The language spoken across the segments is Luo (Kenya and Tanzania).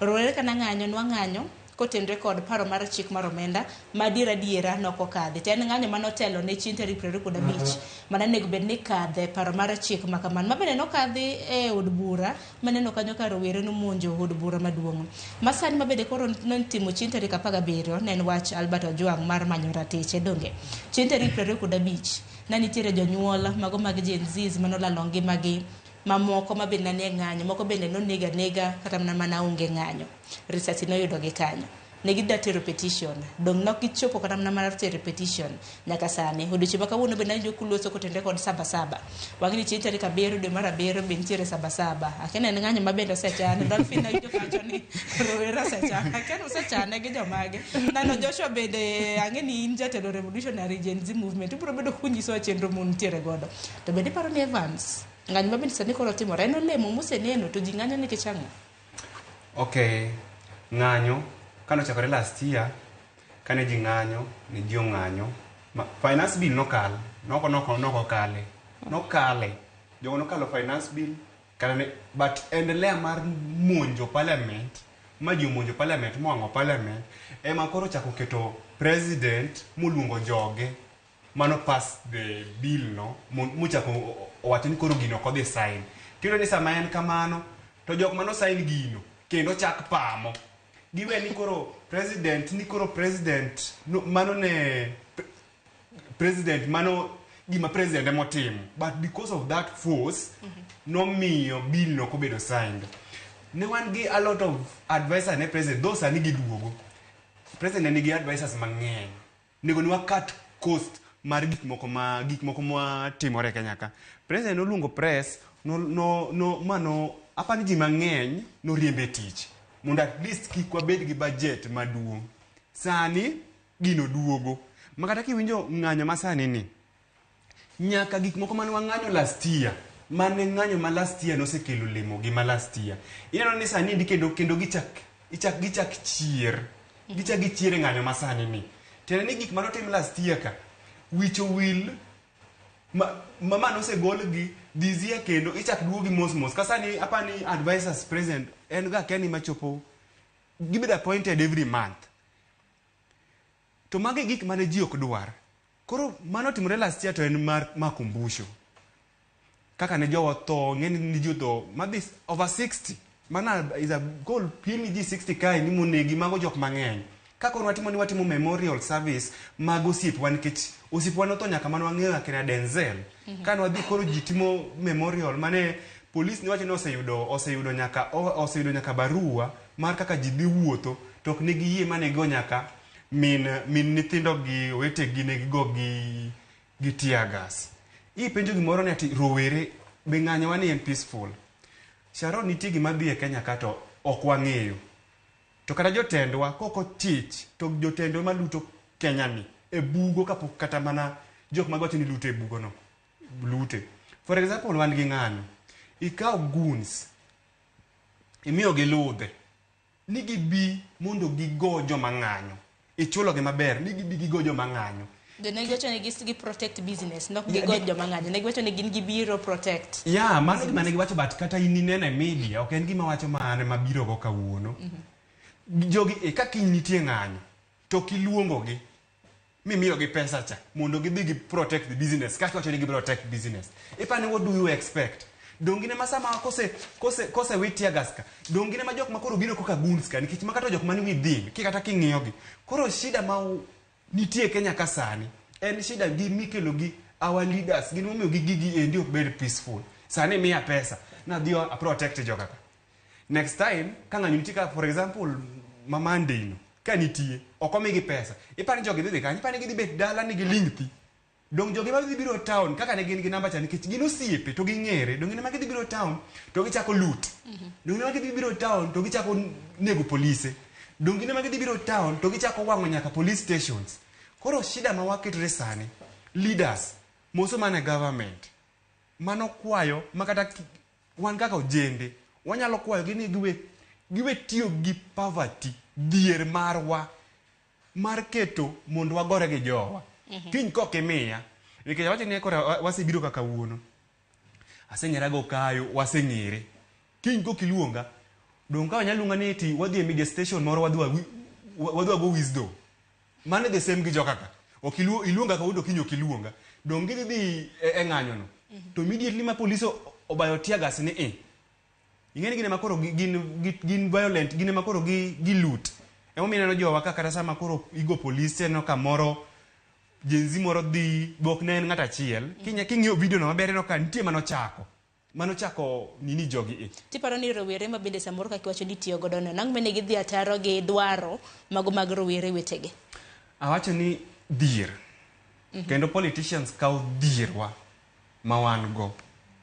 Rowere ka nang'anyo, nwang'anyo kotenre kod paro mar chik mar omenda ma adier adiera ne ok okadhi, to en ng'anyo mane otelo ne chieng' tarik piero ariyo kod abich mane onego bed ni kadhe paro mar chik ma kamano, ma bende nokadhi e od bura maneno kanyo ka rowere nomonjo od bura maduong' masani ma bende koro notimo chieng' tarik apar gabiriyo ne en wach Albert Ojwang' mar manyo ratiche donge chieng' tarik piero ariyo kod abich ne nitiere jonyuol mago mag Gen Zs mane olalo ngimagi mamoko ma be nanie ng'anyo, moko bende noneg anega kata mana mana onge ng'anyo. Risasi noyudo gi kanyo. Ne gida tero petition. Dong' nok gichopo kata mana mar tero petition nyaka sani. Odiochieng' ma kawuono be nawinjo kuluoso kotende kod saba saba. Wang'e ni chieng' tarik abiriyo dwe mar abiriyo be nitiere saba saba. Akia ni en ng'anyo ma bende osechan. Dolphin nawinjo kawacho ni rowere osechan. Akia ni usechane gi jomage. Nano Joshua bende ang'e ni in jatelo revolutionary Gen Z movement. Ubiro bedo kunyisowa chenro muntiere godo. To bende iparo ni Evans, ng'anyo mabende sani koro timore en olemo museneno to ji ng'anyo nikech ang'o? Okay, ng'anyo kane ochakore last year kane ji ng'anyo ne ji ong'anyo ma finance bill nokal noko noko noko kale nokale jogo nokalo finance bill kata ne but endelea mar monjo parliament ma ji omonjo parliament mowang'o parliament ema koro ochako keto president moluongo joge mano pass the bill no mo- mochako o- o- owacho ni koro gino ok odhi sign tiyudo ni sama en kamano to jok mano sign gino kendo chak pamo giwe ni koro president ni koro president no, mano ne pre- president mano gima president emotimo but because of that force nomiyo bill no kobedo signed ne wan gi a lot of advisor ne president though sani giduogo president nigi advisors mang'eny Onego ni wa cut cost mar gik moko ma gik moko ma timore e Kenya ka. President noluongo press no no no ma no apa ni ji mang'eny noriemb e tich mondo at least kik wabed gi budget maduong'. Sani gino duogo ma kata kiwinjo ng'anyo ma sani ni, Nyaka gik moko mane wang'anyo last year, mane ng'anyo ma last year nosekelo olemo gi ma last year. Ineno ni sani endi kendo kendo gichak ichak gichak chier. Gichak gichier e ng'anyo ma sani ni. Tiende ni gik mane otim last year ka, wicho wil ma ma ma nosegol gi this year kendo ichak duogi mos mos. Ka sani apa ni advisors president en ga kia ni ma chopo gibedo appointed every month. To mago e gik mane ji ok dwar. Koro mane otimore last year to en mar makumbusho. Kaka ne jowa tho, ng'eny ni ji otho, madhi over 60. Mano is a goal piem ni ji 60 kae ni monegi, mago jok mang'eny. Ka koro watimo ni watimo memorial service mag osiepwa nikech osiepwa notho nyaka mane wang'eyo akina Denzel. Mm -hmm. Kane wadhi koro ji timo memorial mane polis ne wacho ni oseyudo oseyudo nyaka oseyudo nyaka barua mar kaka ji dhi wuotho to ok ne giyie ma ne gigo nyaka min min nyithindo gi owetegi ne gigo gi gi tear gas. Ipenjo gimoro ni ati rowere be ng'anyowa ni en peaceful. Sharon nitie gima dhi e Kenya ka to ok wang'eyo. To kata jotendwa kok ochich to jotendwa ma luto Kenya ni e bugo kapok kata mana jok mago wacho ni luto e bugo no lute. For example wan gi ng'anyo. Ikaw goons imiyogi ludhe ni gibi mondo gigo joma ng'anyo. Ichulogi maber ni gibi gigo joma ng'anyo. Jo ne giwacho ni gi protect business, nok gi go joma ng'anyo. Ne giwacho ni gin gibiro protect. Yeah, mano gima ne giwacho but kata in ineno e media, ok en gima wacho ma an ema birogo kawuono. Jogi e ka kiny nitie ng'anyo, to ok iluongogi. mimiyogi pesa cha mondo gidhi gi protect the business kasto wacho ni gi protect business ipani what do you expect dongine ma sama kose kose kose wit tear gas ka dongine ma jok ma koro biro koka guns ka nikech makato jok mani within ki kata king'iyogi koro shida ma u- nitie Kenya ka sani en shida gi mikelo gi our leaders gin momiyo gi gigi endi ok bed peaceful sani miya pesa nadhi a protect joka ka Next time ka ng'anyo nitie ka for example ma Monday no ka nitie ok omigi pesa ipani jogi dhi dhi kanye ipani gidhi bet dala ni giling thi dong jogi ma dhi biro town kaka ne gin gi namba cha nikech gin osiepe to ging'ere dong ne ma gidhi biro town to gichako loot dong ne ma gidhi biro town to gichako nego polise dong ne ma gidhi biro town to gichako wang'o nyaka police stations koro shida ma waketore sani leaders moso mana government mano kwayo ma kata ki- Wan kaka ojende wanyalo kwayogi ni giwe giwe tiyo gi poverty dhier marwa mar keto mondo wagore gi jowa. Kiny kok imiya nikech awacho ni kora wa- wasebiro kaka kawuono. Aseng'era go kayo waseng'ere. Kiny kok iluonga donge ka wanyalo luonga ni eti wadhi e media station moro wadhi wawi- wa- wadhi wago wisdom. Mano the same gi joka ka. Ok iluo, iluonga ka wudo kinyo ok iluonga. Dong gidhi dhi e, e ng'anyo no. To immediately ma police o- obayo tear gas ni i. Ing'eni gine makoro gi- gin, gi- gin violent, gine makoro gi, gi loot. Emo mineno jowa ka kata sama koro igo police te no kamoro jenzi moro dhi bok ne en ng'at achiel. Kinya- King'iyo video no maber ineno ka nitie manochako. Mano chako nini jogi i. Tiparo ni rowere ma bende samoro kaka iwacho ni itiyo godo no, nang'o mene gidhi ataro gi dwaro mago mag rowere wetege? Awacho ni dhier. Kendo politicians kawo dhierwa ma wan go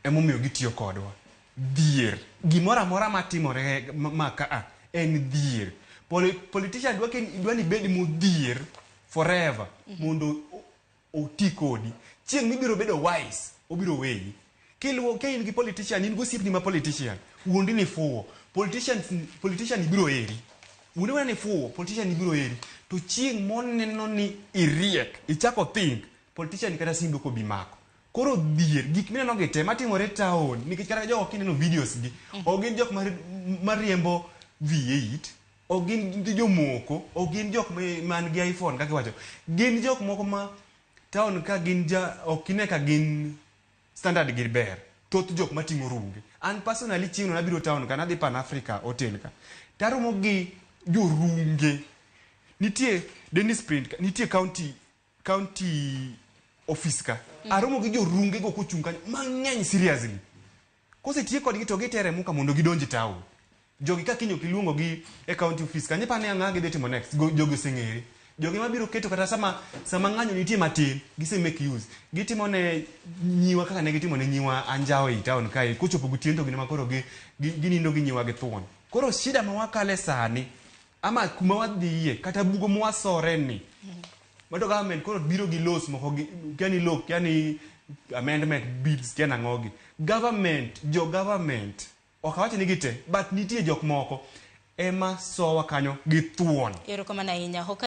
emomiyo gitiyo kodwa. Dhier. Gimoro amora matimore ma ka a en dhier. Politician dwa ni ibed modhier forever mondo oti kodi. Chieng' mibiro bedo wise, obiro weyi. Kiluwo, ka in gi politician, in gi osiepni ma politician, wuondi ni fuwo. Politicians, politician ni biro heri. Wuondi mana ni fuwo, politician ni biro heri. To chieng' moneno ni iriek, ichako think, politician ni kata simbi ok obi mako. Koro dhier, gik mineno gi te matimore town, nikech kata jogo kineno videos gi, ok gin jok ma, ma riembo V8, Ok gin nitie jomoko, ok gin jok ma- man gi iPhone kaka iwacho. Gin jok moko ma town ka gin ja ok ine ka gin standard gi ber. Thoth jok mating'o runge. An personally chieng'no nabiro town ka nadhi Pan Africa hotel ka. Taromo gi jorunge. Nitie Dennis Print ka, nitie county County office ka. Mm. Aromo gi jorunge go kochung' kanyo mang'eny seriously. Kosetiye kodgi to gitere muka mondo gidonji town. Jogi ka kinyo kiluongo gi e county office kanyo pa ne ang'a gidhi timo next. Jogi oseng'ere. Jogi ma biro keto kata sama sama ng'anyo nitie matin gise make use. Gitimo ne nyiwa kaka ne gitimo ne nyiwa anjawo e town kae kochopo gotieno to gine ma koro gi ginindo gi nyiwa gi thuon. Koro shida ma wakale sani ama kuma wadhiye kata bugo mwasore ni mato government koro biro gi laws moko gi yani law yani amendment bills tena ngogi government jo government ok awacho ni gite but nitie jok moko ema sowa kanyo gi thuon Erokamano ahinya.